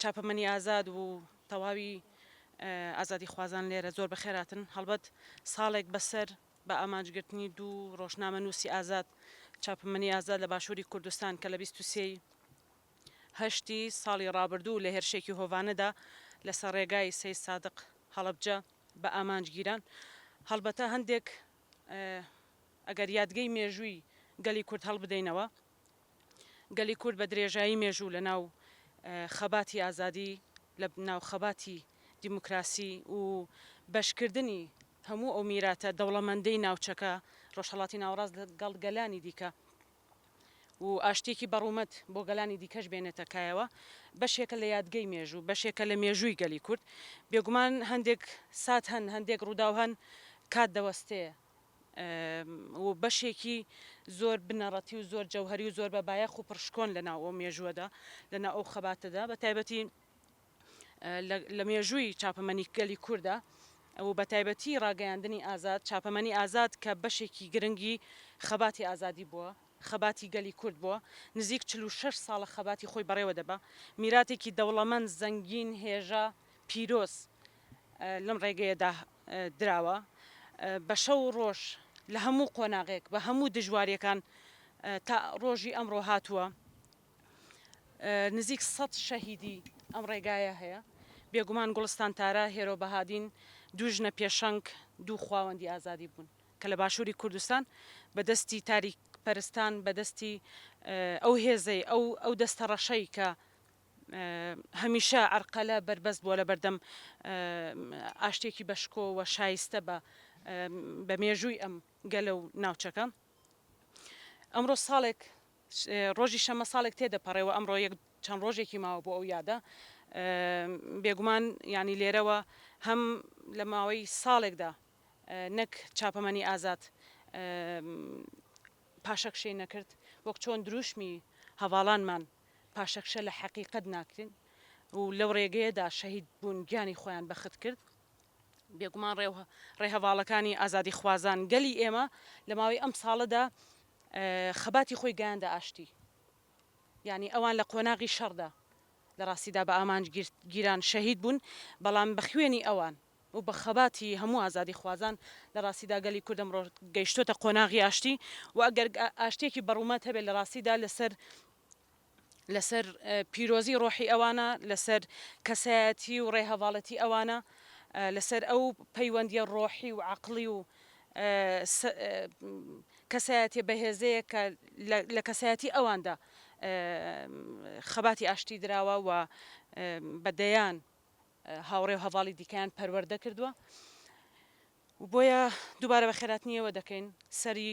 چاپەمەنی ئازاد و تەواوی ئازادی خوازان لێرە زۆر بەخێراتن هەڵبەت ساڵێک بەسەر بە ئامانجگرتنی دوو ڕۆژنامە نووسی ئازاد چاپمەنی ئازاد لە باشووری کوردستان کە لە بیست و سێی هەشتی ساڵی ڕابردوو لە هێرشێکی هۆڤانەدا لەسەر ڕێگای سەید سادق هەڵەبجە بە ئامانج گیران. هەڵبەتە هەندێک ئەگەر یادگەی مێژووی گەلی کورد هەڵبدەینەوە، گەلی کورد بە درێژایی مێژوو لە ناو خەباتی ئازادی، لە ناو خەباتی دیموکراسی و بەشکردنی هەموو ئەو میراتە دەوڵەمەندەی ناوچەکە، ڕۆژهەڵاتی ناوەڕاست لەگەڵ گەلانی دیکە، و ئاشتییەکی بەڕوومەت بۆ گەلانی دیکەش بێنێتە کایەوە، بەشێکە لە یادگەی مێژوو، بەشێکە لە مێژووی گەلی کورد. بێگومان هەندێک سات هەن، هەندێک ڕووداو هەن کات دەوەستێ و بەشێکی زۆر بنەڕەتی و زۆر جەوهەری و زۆر بەبایەخ و پڕشکۆن لەناو ئەو مێژووەدا، لەناو ئەو خەباتەدا، بەتایبەتی لە مێژووی چاپەمەنی گەلی کوردە و بە تایبەتی ڕاگەیاندنی ئازاد، چاپەمەنی ئازاد کە بەشێکی گرنگی خەباتی ئازادی بووە، خەباتی گەلی کورد بووە، نزیک چل و شەش ساڵە خەباتی خۆی بەڕێوە دەبا، میراتێکی دەوڵەمەند، زەنگین، هێژا، پیرۆز لەم ڕێگەیەدا دراوە. بە شەو و ڕۆژ لە هەموو قۆناغێک، بە هەموو دژوارییەکان تا ڕۆژی ئەمڕۆ هاتووە. نزیک سەد شەهیدی ئەم ڕێگایە هەیە، بێگومان گوڵستان تارا، هێرۆ بەهادین دوو ژنە پێشەنگ، دوو خواوەندی ئازادی بوون کە لە باشووری کوردستان بە دەستی تاریکپەرستان، بە دەستی ئەو هێزەی، ئەو ئەو دەستەڕەشەی کە هەمیشە عەرقەلە بەربەست بووە لە بەردەم ئاشتییەکی بەشکۆ و شایستە بە بە مێژووی ئەم گەلە و ناوچەکە. ئەمڕۆ ساڵێک ڕۆژی شەممە ساڵێک تێدەپەڕێ و ئەمڕۆ یەک چەند ڕۆژێکی ماوە بۆ ئەو یادە. بێگومان یانی لێرەوە هەم لە ماوەی ساڵێکدا نەک چاپەمەنی ئازاد پاشەکشەی نەکرد، وەک چۆن درووشمی هەڤاڵانمان پاشەکشە لە حەقیقەت ناکرێن و لەو ڕێگەیەدا شەهید بوون گیانی خۆیان بەخت کرد. بێگومان ڕێهەڤاڵەکانی ئازادیخوازان، گەلی ئێمە لە ماوەی ئەم ساڵەدا خەباتی خۆی گەیاندە ئاشتی. یانی ئەوان لە قۆناغی شەڕدا لە ڕاستیدا بە ئامانج گیران شەهید بوون، بەڵام بە خوێنی ئەوان و بە خەباتی هەموو ئازادیخوازان لە ڕاستیدا گەلی کورد ئەمڕۆ گەیشتۆتە قۆناغی ئاشتی و ئەگەر ئاشتییەکی بەڕوومەت هەبێت لە ڕاستیدا لەسەر لەسەر پیرۆزی ڕۆحی ئەوانە، لەسەر کەسایەتی و ڕێهەڤاڵەتی ئەوانە، لەسەر ئەو پەیوەندیە ڕۆحی و عەقڵی و کەسایەتیە بەهێزەیە کە لە کەسایەتی ئەواندا خەباتی ئاشتی دراوە و بە دەیان هاوڕێ و هەڤاڵی دیکەیان پەروەردە کردووە. بۆیە دووبارە بە خێراتنیەوە دەکەین سەری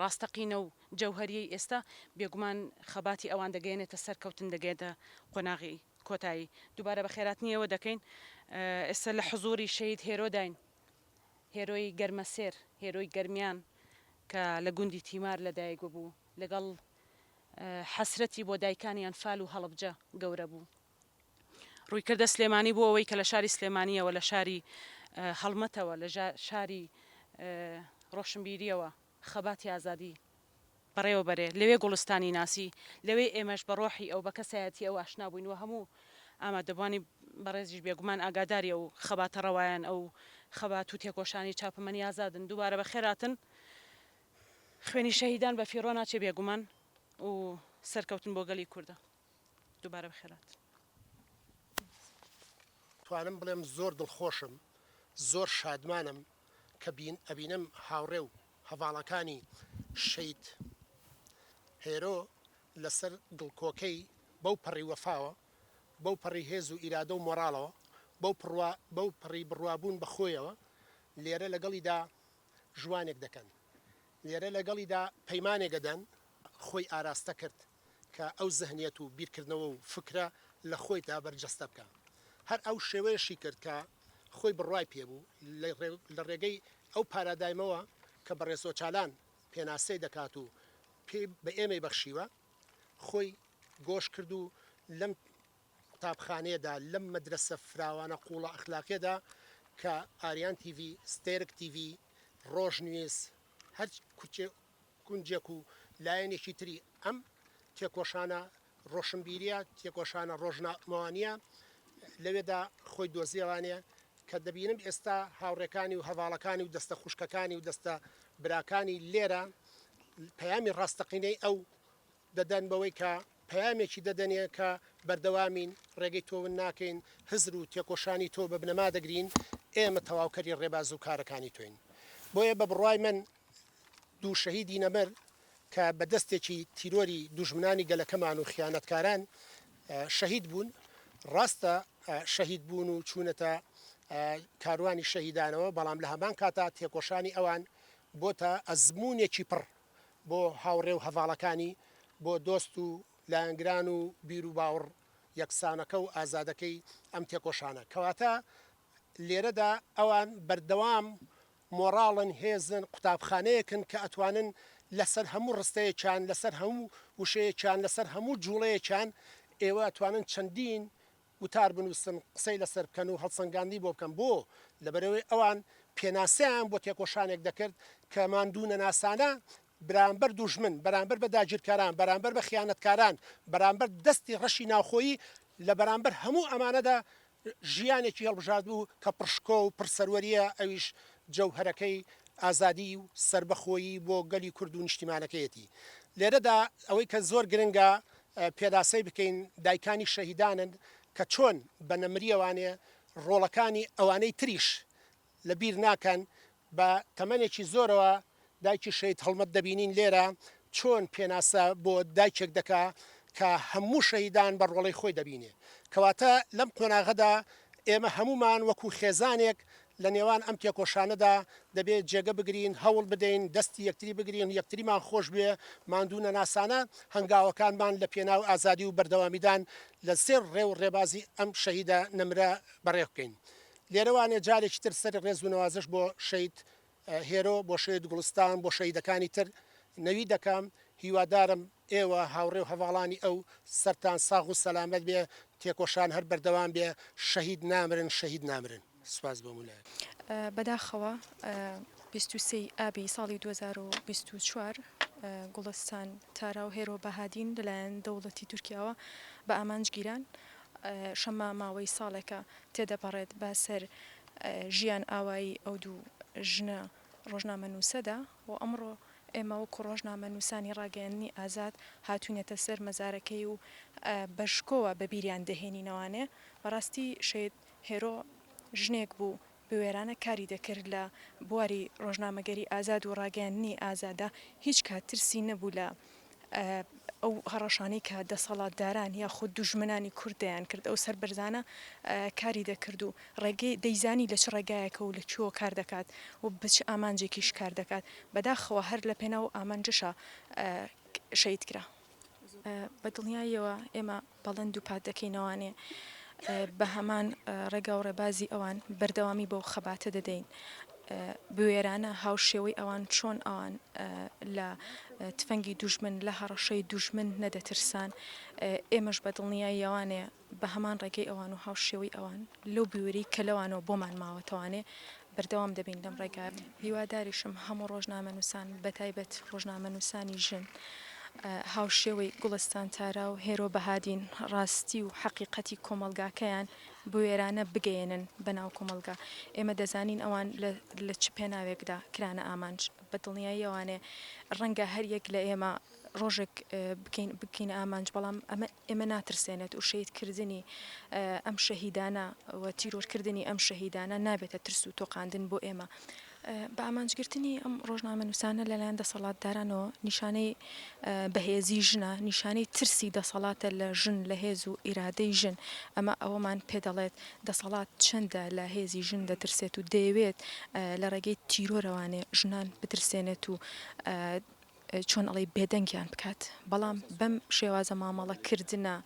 ڕاستەقینە و جەوهەریەی ئێستا، بێگومان خەباتی ئەوان دەگەیەنێتە سەرکەوتن، دەگەیەنتە قۆناغی کۆتایی. دووبارە بەخێراتنی ئێوە دەکەین. ئێستا لە حزووری شەهید هێرۆداین، هێرۆی گەرمەسێر، هێرۆی گەرمیان کە لە گوندی تیمار لەدایک ببوو، لەگەڵ حەسرەتی بۆ دایکانی ئەنفال و هەڵەبجە گەورە بوو. رویکردە سلێمانی بۆ ئەوەی کە لە شاری سلێمانیەوە لە شاری هەڵمەتەوە لە شاری رۆشنبیریەوە خەباتی ئازادی بەڕێوە بەرێ لەوێ گوڵستانی ناسی لەوێ ئێمەش بە رۆحی ئەو بە کەسایەتی ئەو ئاشنا بووین و هەموو ئامادەبوانی بەڕێزیش بێگومان ئاگاداری ئەو خەباتە ڕەوایان ئەو خەبات و تێکۆشانی چاپەمەنی ئازادن دووبارە بە خێراتن خوێنی شەهیدان بە فیڕۆ ناچێ بێگومان و سەرکەوتن بۆ گەلی کوردە دوبارە بخێرات. توانم بڵێم زۆر دڵخۆشم زۆر شادمانم کە ئەبینم هاوڕێ و هەڤاڵەکانی شەید هێرۆ لەسەر گڵکۆکەی بەو پەڕی وەفاوە بەو پەڕی هێز و ئیرادە و مۆڕاڵەوە بەو پڕوا بەو پەڕی بڕوابوون بە خۆیەوە لێرە لەگەڵیدا ژوانێک دەکەن لێرە لەگەڵیدا پەیمانێک ئەدەن خۆی ئاراستە کرد کە ئەو زهنیەت و بیرکردنەوە و فکرە لە خۆیدا بەرجەستە بکا. هەر ئەو شێوەیەشی کرد کە خۆی بڕوای پێ بوو، لە ڕێگەی ئەو پارادایمەوە کە بەڕێز ئۆچالان پێناسەی دەکات و پێی بە ئێمەی بەخشیوە، خۆی گۆش کرد و لەم قوتابخانەیەدا، لەم مەدرەسە فراوانە قووڵە ئەخلاقیەدا کە ئاریان تیڤی، ستێرک تیڤی، ڕۆژنویس، هەر گونجێک و لایەنێکی تری ئەم تێکۆشانە ڕۆشنبیرییە، تێکۆشانە ڕۆژنامەوانییە لەوێدا خۆی دۆزیەوانێ کە دەبینم ئێستا هاوڕێکانی و هەڤاڵەکانی و دەستە خوشکەکانی و دەستە براکانی لێرە پەیامی ڕاستەقینەی ئەو دەدەن بەوەی کە پەیامێکی دەدەنێ کە بەردەوامین، ڕێگەی تۆ ون ناکەین، هزر و تێکۆشانی تۆ بە بنەما دەگرین، ئێمە تەواوکەری ڕێباز و کارەکانی تۆین. بۆیە بە بڕوای من دوو شەهیدی نەمر کە بە دەستێکی تیرۆری دوژمنانی گەلەکەمان و خیانەتکاران شەهید بوون، ڕاستە شەهید بوون و چوونەتە کاروانی شەهیدانەوە، بەڵام لە هەمان کاتا تێکۆشانی ئەوان بۆتە ئەزموونێکی پڕ بۆ هاوڕێ و هەڤاڵەکانی، بۆ دۆست و لایەنگران و بیروباوڕ یەکسانەکە و ئازادەکەی ئەم تێکۆشانە. کەواتە لێرەدا ئەوان بەردەوام مۆڕاڵن، هێزن، قوتابخانەیەکن کە ئەتوانن لەسەر هەموو ڕستەیەکیان، لەسەر هەموو وشەیەکیان، لەسەر هەموو جووڵەیەکیان ئێوە ئەتوانن چەندین وتار بنووسن، قسەی لەسەر بکەن و هەڵسەنگاندنی بۆ بکەن. بۆ؟ لەبەرئەوەی ئەوان پێناسەیان بۆ تێکۆشانێک دەکرد کە ماندوونەناسانە بەرامبەر دوژمن، بەرامبەر بە داگیرکەران، بەرامبەر بە خیانەتکاران، بەرامبەر دەستی ڕەشی ناوخۆیی، لە بەرامبەر هەموو ئەمانەدا ژیانێکی هەڵبژاردبوو کە پڕ شکۆ و پڕ سەروەرییە، ئەویش جەوهەرەکەی ئازادی و سەربەخۆیی بۆ گەلی کورد و نیشتیمانەکەیەتی. لێرەدا ئەوەی کە زۆر گرنگە پێناسەی بکەین دایکانی شەهیدانن کە چۆن بە نەمریەوانێ ڕۆڵەکانی ئەوانەی تریش لە بیر ناکەن بە تەمەنێکی زۆرەوە دایکی شەهید هەڵمەت دەبینین لێرە چۆن پێناسە بۆ دایکێک دەکا کە هەموو شەهیدان بە ڕۆڵەی خۆی دەبینێ کەواتە لەم قۆناغەدا ئێمە هەموومان وەکوو خێزانێک لە نێوان ئەم تێکۆشانەدا دەبێ جێگە بگرین، هەوڵ بدەین، دەستی یەکتری بگرین، یەکتریمان خۆش بوێ، ماندوو نەناسانە هەنگاوەکانمان لە پێناو ئازادی و بەردەوامیدان لە زێڕ ڕێ و ڕێبازی ئەم شەهیدە نەمرە بەڕێ بکەین. لێرەوانێ جارێکی تر سەری ڕێز و نەوازش بۆ شەید هێرۆ، بۆ شەید گوڵستان، بۆ شەهیدەکانی تر نەوی دەکەم. هیوادارم ئێوە هاوڕێ و هەڤاڵانی ئەو سەرتان ساغ و سەلامەت بێ، تێکۆشان هەر بەردەوام بێ، شەهید نامرن، شەهید نامرن. سپاس بۆ مولایەک. بەداخەوە بیست و سێ ی ئابی ساڵی دوو هەزار و بیست و چوار گوڵستان تارا و هێرۆ بەهادین لەلایەن دەوڵەتی تورکیاوە بە ئامانج گیران. شەممە ماوەی ساڵێکە تێدەپەڕێت بە سەر ژیان ئاوایی ئەو دوو ژنە ڕۆژنامەنووسەدا و ئەمڕۆ ئێمە وەکوو ڕۆژنامەنووسانی ڕاگەیاندنی ئازاد هاتووینەتە سەر مەزارەکەی و بە شکۆوە بە بیریان دەهێنینەوانێ. بەڕاستی شەید هێرۆ ژنێک بوو بوێرانە کاری دەکرد لە بواری ڕۆژنامەگەری ئازاد و ڕاگەیاندنی ئازادە، هیچ کات ترسی نەبوو لە ئەو هەڕەشانەی کە دەسەڵاتداران یاخود دوژمنانی کورد دەیانکرد، ئەو سەربەرزانە کاری دەکرد و ڕێگەی دەیزانی لە چ ڕێگایەکە و لە کوێوە کار دەکات و بە چ ئامانجێکیش کار دەکات، بەداخەوە هەر لە پێناو ئەو ئامانجەشە شەهیدکرا. بە دڵنیاییەوە ئێمە بەڵێن دووپات دەکەین ئەوانێ بە هەمان ڕێگا و ڕێبازی ئەوان بەردەوامی بەو خەباتە دەدەین بوێرانە هاوشێوەی ئەوان چۆن ئەوان لە تفەنگی دوژمن لە هەڕەشەی دوژمن نەدەترسان ئێمەش بە دڵنیای یاوانێ بە هەمان ڕێگەی ئەوان و هاوشێوەی ئەوان لەو بوێری کە لەوانەوە بۆمان ماوەتەوانێ بەردەوام دەبین لەم ڕێگایە. هیواداریشم هەموو ڕۆژنامەنووسان، بەتایبەت ڕۆژنامەنووسانی ژن، هاوشێوەی گوڵستان تارا و هێرۆ بەهادین، ڕاستی و حەقیقەتی کۆمەڵگاکەیان بوێرانە بگەیەنن بە ناو کۆمەڵگا. ئێمە دەزانین ئەوان لە چ پێناوێکدا کرانە ئامانج. بە دڵنیایی ئەوانێ ڕەنگە هەر یەک لە ئێمە ڕۆژێک بکەین بکەینە ئامانج بەڵام ئەمە ئێمە ناترسێنێت و شەید کردنی ئەم شەهیدانە و تیرۆرکردنی ئەم شەهیدانە نابێتە ترس و تۆقااندن بۆ ئێمە بە ئامانجگرتنی ئەم ڕۆژنامە نووسانە لەلایەن دەسەڵاتدارانەوە نیشانەی بەهێزی ژنە نیشانەی ترسی دەسەڵاتە لە ژن لە هێز و ئیرادەی ژن ئەمە ئەوەمان پێ دەڵێت دەسەڵات چەندە لە هێزی ژن دەترسێت و دەیەوێت لە ڕێگەی تیرۆرەوانێ ژنان بترسێنێت و چۆن ئەڵێی بێدەنگیان بکات بەڵام بەم شێوازە مامەڵە کردنە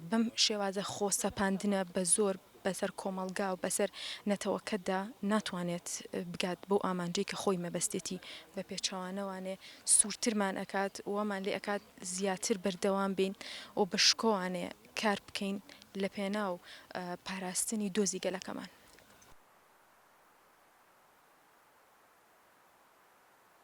بەم شێوازە خۆ سەپاندنە بە زۆر بەسەر کۆمەڵگا و بەسەر نەتەوەکەتدا ناتوانێت بگات بەو ئامانجەی کە خۆی مەبەستێتی بە پێچەوانەوانێ سوورترمان ئەکات وەمان لێ ئەکات زیاتر بەردەوام بین و بە شکۆوانێ کار بکەین لە پێناو پاراستنی دۆزی گەلەکەمان.